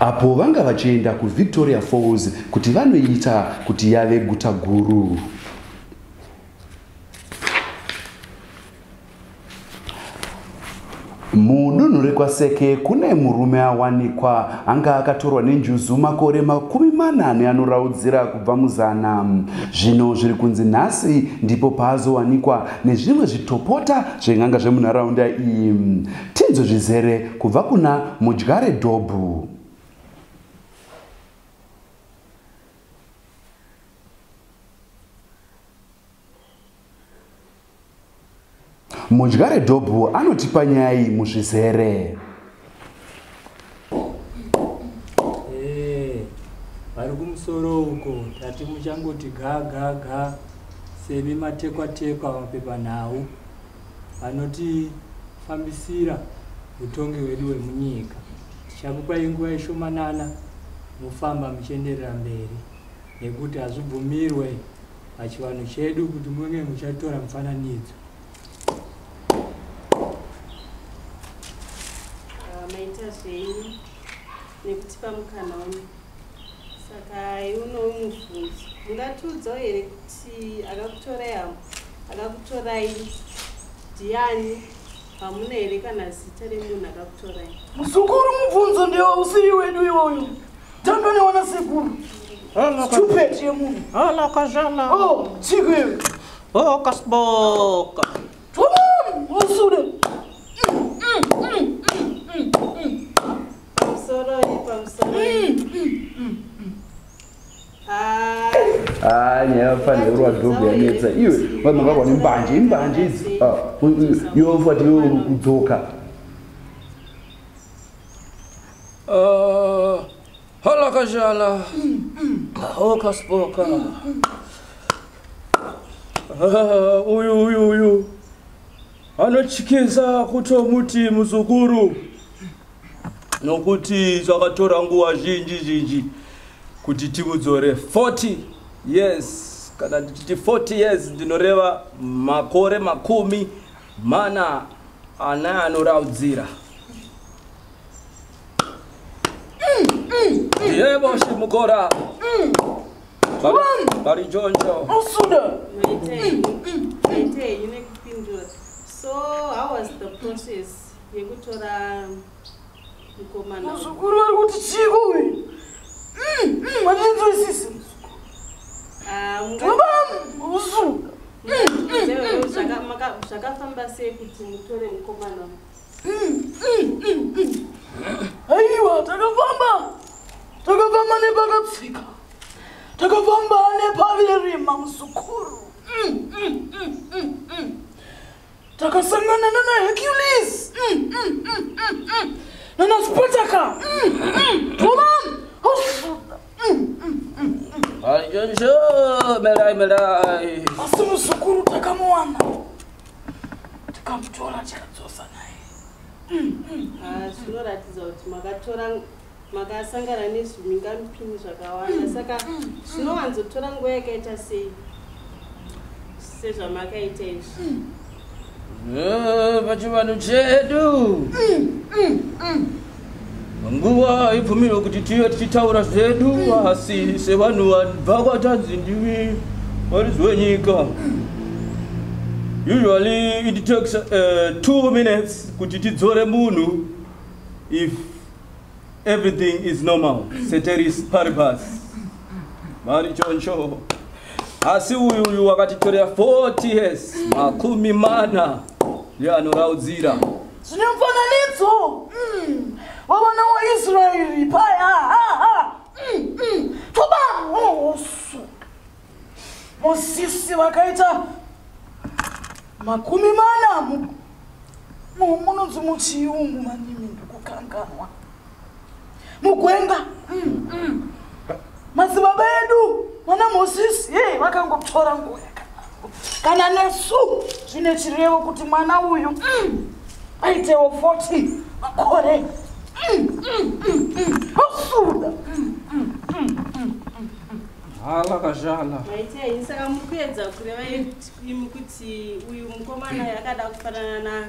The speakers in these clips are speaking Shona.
apo vanga vachienda kuvictoria falls kuti vanoita kuti yave guta guru mudunhu rekwaseke kune murume awanikwa anga akatorwa nenjuzu makore makumi mana neanoraudzira kubva muzana zvino zviri kunzi nhasi ndipo paazowanikwa nezvimwe zvitopota zven'anga zvemunharaunda iyi Tinzwe zvizere kubva kuna Mudyare Dhobhu. Mudyare Dhobhu anotipa nyaya iyi muzvizere. vari kumusoro uko tati muchangoti ga ga ga semi matekwatekwa mapepanhau vanotifambisira utongi wedu wemunyika tichakupa inguva ishomanana mufamba muchienderera mberi nekuti hazvibvumirwe pachivanhu chedu kuti munge muchatora mufananidzo ah, maita zvenyu nekutipa mukana uno saka iunowo mubvunzo mungatiudzawo here kuti akakutorai avo akakutorai ndiani hamuna here kana zita remunhu akakutorai muzukuru mubvunzo ndewo usiri wedu iwoyo tandonewana sekuru stupid yemunhu halakazhala oh, oh, kasboka afanirwa dhobhu yanetsa iwe vanhu vakwane mbanje imbanje idzi ah, yofati yo kudzoka ah, halakazhala okaspoka Ah, uyu uyu uyu anotyisa kutomuti muzukuru nokuti zvakatora nguva zhinji zhinji kuti timudzore 40 years kana ndichiti 40 years ndinoreva makore makumi mana ana anoraudzira ndiye boshi mukora Bari Jonjo. Musuda. Maitei. Maitei yine kupindura. So how was the process yekutora mkomana? Muzukuru vari kuti chiko uyu. Mm, mm, andinzwisisi. Ah, mukaba musuda. Zvakafamba sei kuti mutore mkomana? aiwa takafamba takafamba nepakatsika takafamba nepaverima muzukuru takasangana nana hercules nana spataka oman hosuda asi muzukuru takamuwana tikamutora tikadzosa naye mm, mm, mm. zvinoratidza kuti makatora makasangana nezvimingamupini zvakawanda saka zvinowanzotora nguva yakaita sei sezvamakaita izvi eh, pachivanhu chedu nguva haibvumirwe kuti tive tichitaura zvedu asi sevanhu vanobva kwatanzi ndivi varidzi wenyika usually it takes uh, two minutes kuti tidzore munhu if everything is normal seteris paribas mari choncho asi uyu uyu wakatitorera 40 years makumi mana yeanoraudzira yeah, Zvine mufananidzo. Mm. Vavana waIsraeri paya. Ha ha. Mm. Mm. Toba hosu. Mosisi vakaita makumi mana mu munonzi muchiyungu manimi ndikukanganwa. mugwenga mm, mm. madzibaba edu mwana mosisi ye vakangoptora nguva kana nesu zvine chirevo kuti mwana uyu mm, aitewo 40 makore osuda hala kazhala aiteaisaka mukuedza kureva kuti uyu mukomana yakada kufanana na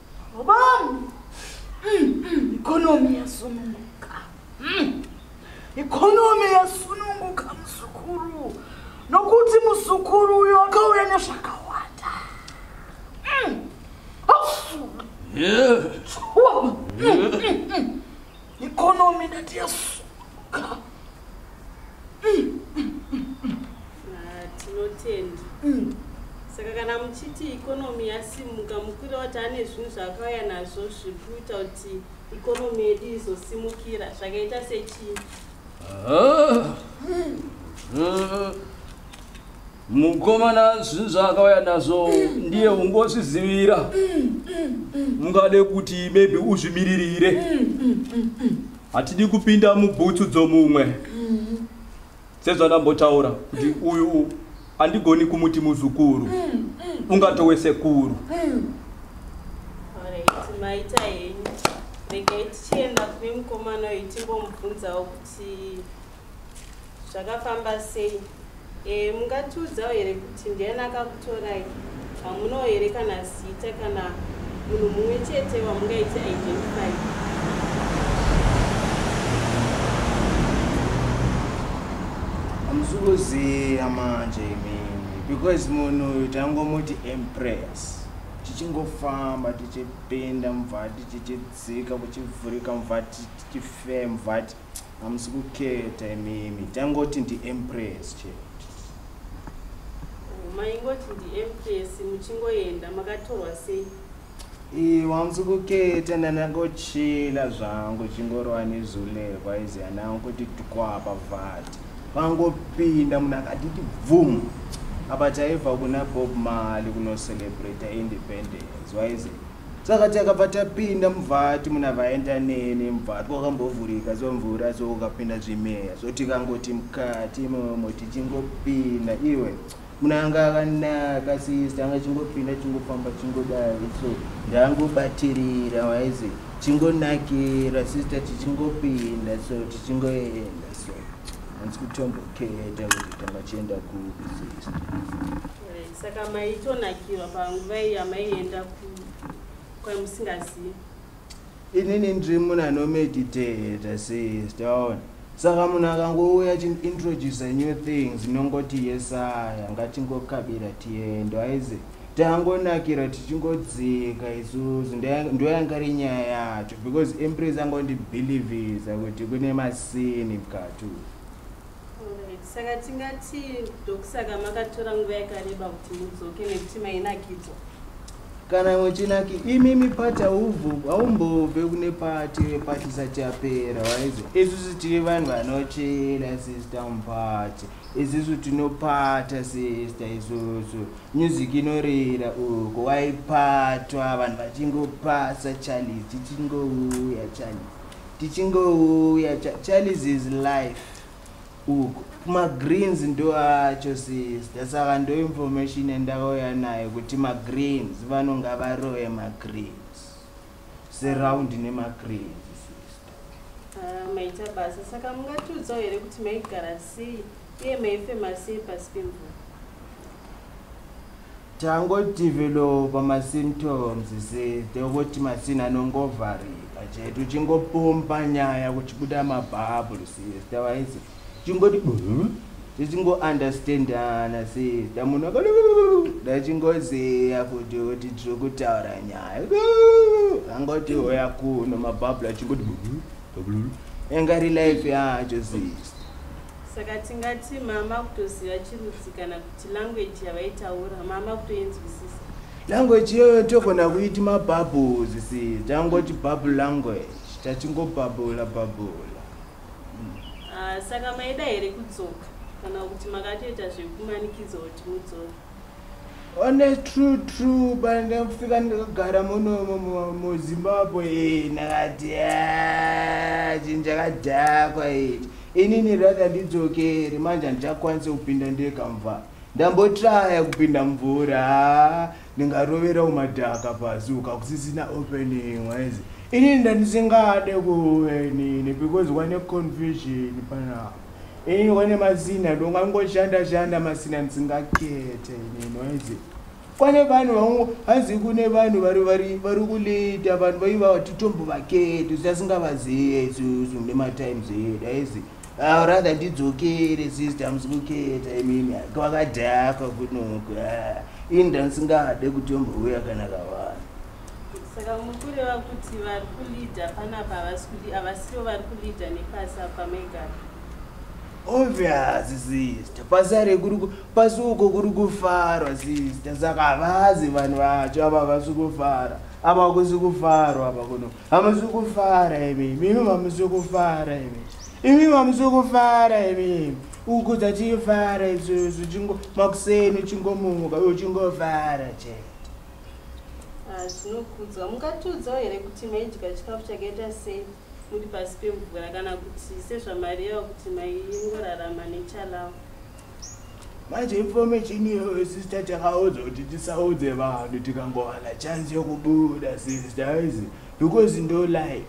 Vabami. Mm, mm, economy yasununguka. Mm. Economy yasununguka muzukuru. Nokuti muzukuru uyo akauya nezvakawanda. Mm. Oh. Yeah. Oh. Mm, mm, mm. Economy ndati yasuka. Tinotenda. Mm. Saka kana muchiti economy yasimuka mukwira wati ane zvinhu zvaakauya nazvo zviri kuita kuti economy yedu izosimukira zvakaita sechii? Ah. Mm. Mm. mukomana zvinhu zvaakauya nazvo ndiye ungozvizivira mungade kuti maybe uzvimiririre hatidi kupinda mubhutsu dzomumwe sezvandambotaura kuti uyu andigoni kumuti muzukuru ungatowe sekuru maita henyu regai tichienda kune mukomana uyu timbomubvunzawo kuti zvakafamba sei e, mungatiudzawo here kuti ndiani akakutorai hamunawo here kana zita kana munhu mumwe chete wamungaiti identify amusukuziya manje imini because munhu uyu tangomuti empress tichingofamba tichipinda muvhati tichidzika kuchivhurika muvhati tichifee muvhati hamusi kuketa imimi tangoti ndiempress che oh, maingoti ndiempress muchingoenda makatorwa sei iwe hamusi kuketa ndanangochila zvangu chingorova nezulekwa izi anangu kuti tikwapa vati vangopinda munhu akatiti bvumu apa taibva kuna bob mali kunocelebrata independence waize saka takabva tapinda muvhati muna vaenda neni muvhati wakambovhurika somvura so ukapinda zvimeya so tikangoti mukati momo tichingopinda iwe munhu anga akanaka sista anga chingopinda chingofamba chingodari so ndangobatirira waizi chingonakira sista tichingopinda so tichingoenda so hanzi kutomboketa kuti tanga chienda kupi sista saka maitonakirwa panguva iyi yamaienda kwamusingazivi inini ndiri muna nomeditata sis taona saka munhu akangouya chiintroduce new things inongoti yesaya ngatingokabira tiendo aize tangonakira tichingodzika isusu ndoyanga ri nyaya yacho because empress angondibhilivhisa kuti kune masini mukati uyu saka tingati ndokusaka makatora nguva yakareba kuti mudzoke nekuti mainakidzwa kana imwe chinaki imimi pati haumbobve kune pati pati isati yapera waizi isusu tiri vanhu vanochena sista mupati isusu tinopata sista isusu music inorira uko waipatwa vanhu vachingopasa challenge tichingouya challenge tichingouya charles is life uko magreens ndoacho sister saka ndo information yandakauya nayo kuti magreens vanonga varoye magreens surround nemagreens sister ah, maita basa saka mungatiudzawo here kuti maigara sei uye maifema sei pasi pemvura Tango developer ma symptoms se tokoti masini anongovharika chete uchingopompa nyaya kuchibuda mabubble sister waise chingoti tisingo understandana sister munhu ndachingozeya kuti kuti tiri kutaura nyaya angoti hoya kuno mabubble achingoti engari life yacho sister saka tingati mama kutoziva chirudzi kana language yavaitaura mama kutoinzwisisa language iyoyo togona kuiti mabubbles si tangoti bubble language tachingobhabhula bhabhula ah, saka maida here kudzoka kana kuti makatoita zvekumanikidzwa kuti mudzoka one true true bandafika ndakagara muno muzimbabwe nakati ah, chinhu chakadhakwa ichi inini rather ndidzokere manje handichakwanise kupinda ndega mva ndambotraya kupinda mvura ndingarovera umadhaka pasi ukakusisina opening waizi inini ndandisingade kuve nini because wane confusion panapa inini wane masina ndongangoshanda shanda masina ndisingakete inini waizi kwane vanhu vangu hanzi kune vanhu vari kulita vanhu vaiva titombovaketi zvisasingavazive isusu nematimes edu aizi ah, rather ndidzokere sister musukuketa imini kwakadhakwa kunoko ah, ini ndandisingade kutombouya kana kavanhu saka mukureva kuti vari kulida panapa havasi kudi havasivo vari kulida nepasi apa megara Obvious sister, pasare kuri pasuko kuri kufarwa sister, saka vazi vanhu vacho ava vasi kufara ava kusi kufarwa ava kuno hamusi kufara imi mimi mamusi kufara imi imi mamusi kufara imi uku dzatifara isusu chingo makuseni chingomuka uyo chingofara che ah, zvinokudzwa mungatiudzawo here kuti maidya chikafu chakaita sei muri pasi pemvura kana kuti sezvamareva kuti maingorarama nechalawo manje information iyoyo sister takaudzwa kuti tisaudze vanhu tikangowana chance yokubuda sister izi because ndo life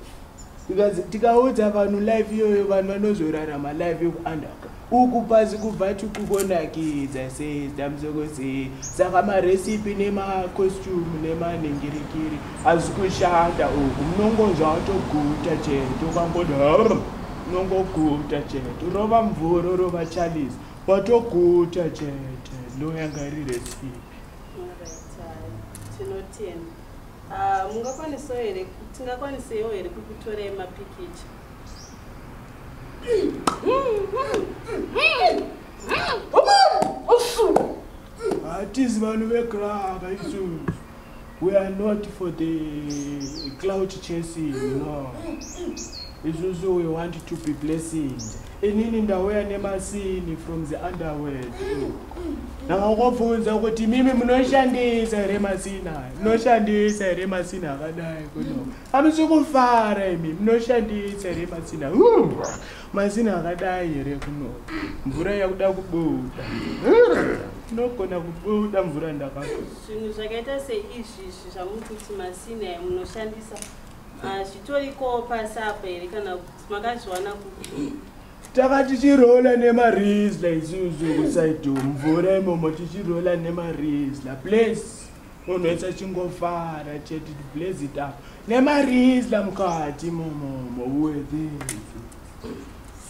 tikaudza vanhu life iyoyo vanhu vanozorarama life yokuunderground uku pasi kubva tukukonakidza sei damsoko sei saka marecipe nemacostume nemanhingirikiri asi kushanda uku munongonzva watoguta chete ukangoda unongoguta chete rova mvura rova charles watoguta chete ndoyanga iri recipe ah, mungakwanisawo here tingakwaniseiwo here kukutorai mapikicha hatizi vanhu vegraka isu we are not for the cloud chasing no isusu we want to be blessing inini ndauya nemasini from the underworld ndakakubvunza kuti mimi munoshandisa here masina munoshandisa here masina akadai kuno Hamusi kufara imi munoshandisa here mazina mazina akadai here kuno mvura yakuda kubuda inogona kubuda mvura ndakazvo zvinhu zvakaita seizvizvi zvamuri kuti masina munoshandisa hazvitoriko pasi apa here kana kuti makazviwana kuti taka tichirola nemarisla isusu kusaido mvura imomo tichirola nemarisla place munhu wese achingofara chete blaze it up nemarisla mukati momomo wethe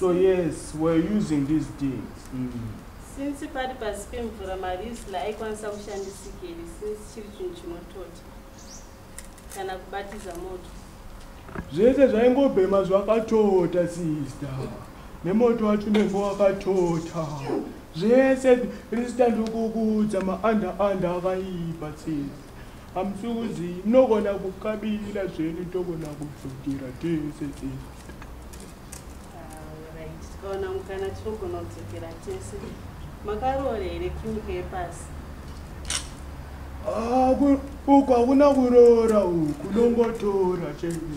so yes weare using these things mm. since pari pasi pemvura marisla aikwanisa kushandisikeri since chiri chinhu chinotota kana kubatiza moto zvese zvaingobhema zvakatota sister nemoto wacho nenge wakatota zvese ristand ukukuudza maanda anda akaipa tsese hamusukuzi munogona kukabira zvenu togona kudzokera tese tsese tikaona mukana tinogona kudzokera tese makaroora here king hepasi ah, uku hakuna kuroora uku nongotora chete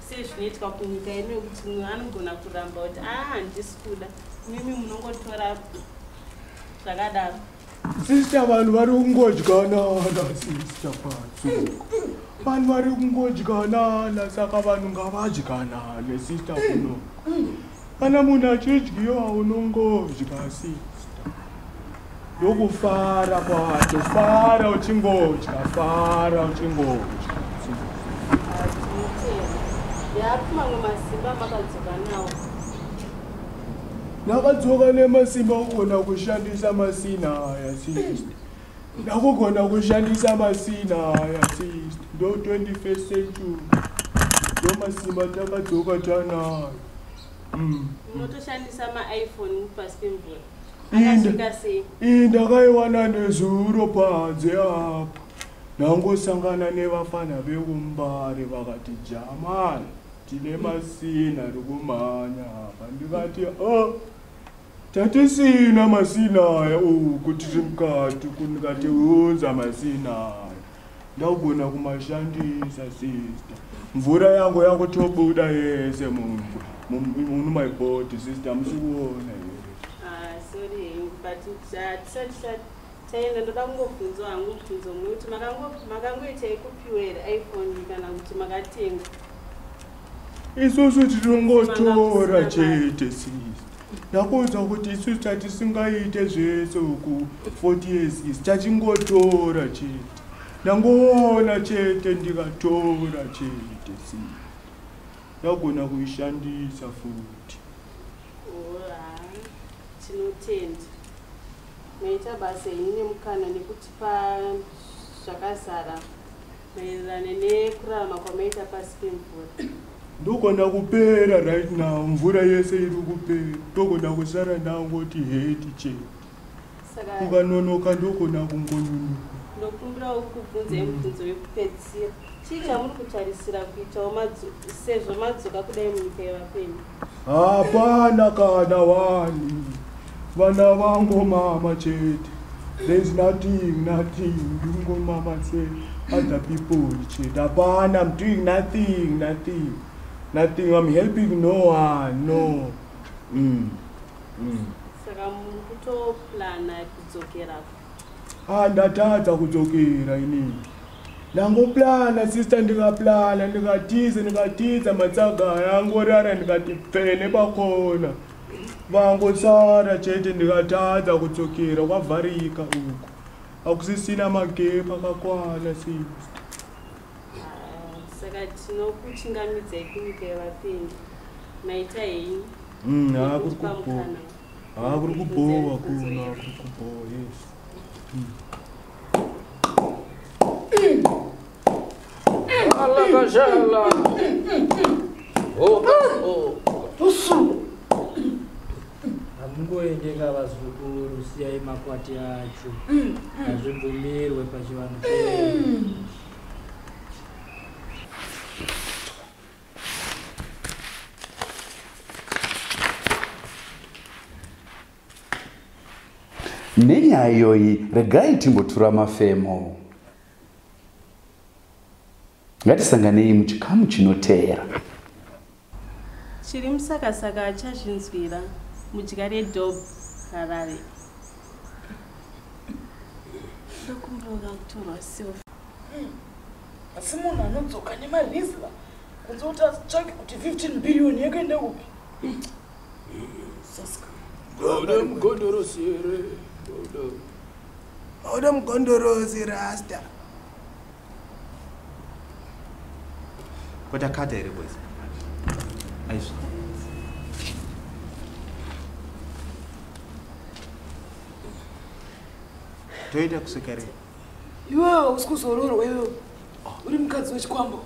sezvinoitwa kunyika yedu yekuti mumwe anogona kuramba kuti aa ah, handisi kuda mimi munongotora zvakadaro sista vanhu vari kungodyanana sista patsuko vanhu vari kungodyanana saka vanhu ngavadyanane sista kuno kana munhu achidyiwa unongodya sista Yokufara kwacho fara uchingodya fara uchingodya. Yapi mamwe masimba makadzoka nawo? Ndakadzoka nemasimba kugona kushandisa masina aya sister. Ndakugona kushandisa masina aya sister. Ndo 21st century. Ndo masimba takadzoka tanayo. Mm. Unotoshandisa maiphone pasi pemvura. iyi ndakaiwana nezuro panze apa ndangosangana nevafana vekumbare vakati jamani tine masina rikumhanya apa ndikati o oh, tatisina masina aya u oh, kuti ri mukati kundikati unza masina aya Ndagona kumashandisa sister. Mvura yangu yangu tobuda yese mungu. Munu my body sister musikuona here. Ah sorry but chat chat taenda ndoda kungobvunzwa hangu mubvunzo mumwe kuti makangoita yekupiwera iphone kana kuti makatenga isusu tinongotora chete sisi ndakuudza kuti isusu tatisingaite zvese uku 40 years isi tachingotora chete ndangoona chete ndikatora chete sisi ndagona kuishandisa futi tinotenda maita basa ini nemukana nekutipa zvakazara maererano nekurarama kwamaita pasi pemvura ndogona kupera right now mvura yese iri kupera ndogona kusara ndangoti heti chete ukanonoka ndogona kungonyunuka ndokumbirawo kubvunza imubvunzo yekupedzisira chii chamuri kutarisira kuitawo sezvo madzoka kudai munyika yevapenyu hapana kana wani vana vangu mama chete there's nothing nothing ndingo mama se other people chete hapana i'm doing nothing nothing nothing i'm helping no one no mm. Mm. saka mukutoplana kudzokera Ah ndatadza kudzokera inini. Ndangoplana sister ndikaplana ndikatiza ndikatiza matsaga aya angorara ndikati pfee nepakona. Vangosara chete ndikatadza kudzokera kwavharika uko. Akusisina magepu akakwana sister. Saka tinokuchingamidzai kunyika yevapengi. Maita henyu. Mm, ah, kuri Tinokupa kupona. mukana. Ah, kuri kubhowa kuna kuri kubhowa yes. Allah kajala. Oh, oh. Tusu. Hamungoendeka vazukuru, siyai makwati acho. Hazvibvumirwe pachivanhu chedu. nenyaya iyoyi regai timbotura mafemo ngatisanganei muchikamu chinoteera chiri musakasaka achazvinzwira mudya redob harare ndokumbira kutorwa silva asi munhu anodzoka nemarizla kunze kuti atsvake kuti 15 billion yekuenda kupi godo mugondorosi here godo godo mugondorosi rasta kotakata here boys aizvo toita kusvika rii iwe hausi kuzororwa iwe uri mukadzi wechikwambo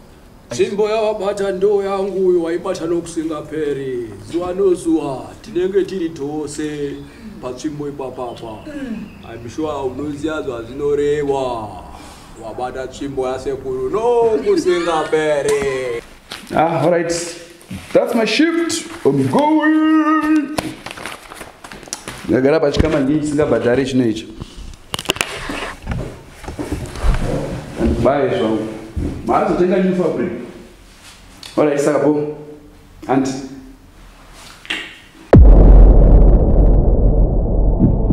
tsvimbo yawabata ndoo yangu uyo waibata nokusingaperi zuva nozuva tinenge tiri tose patsvimbo ipapapa im sure unoziva zvazvinorehwa wabata tsvimbo yasekuru nokusingaperi Ah, all right. That's my shift. I'm going. Ndagara pachikama ndii chisingabhadhari chino icho. Bye zvangu. Maazotenga new fabric. All right, saka bo. Auntie.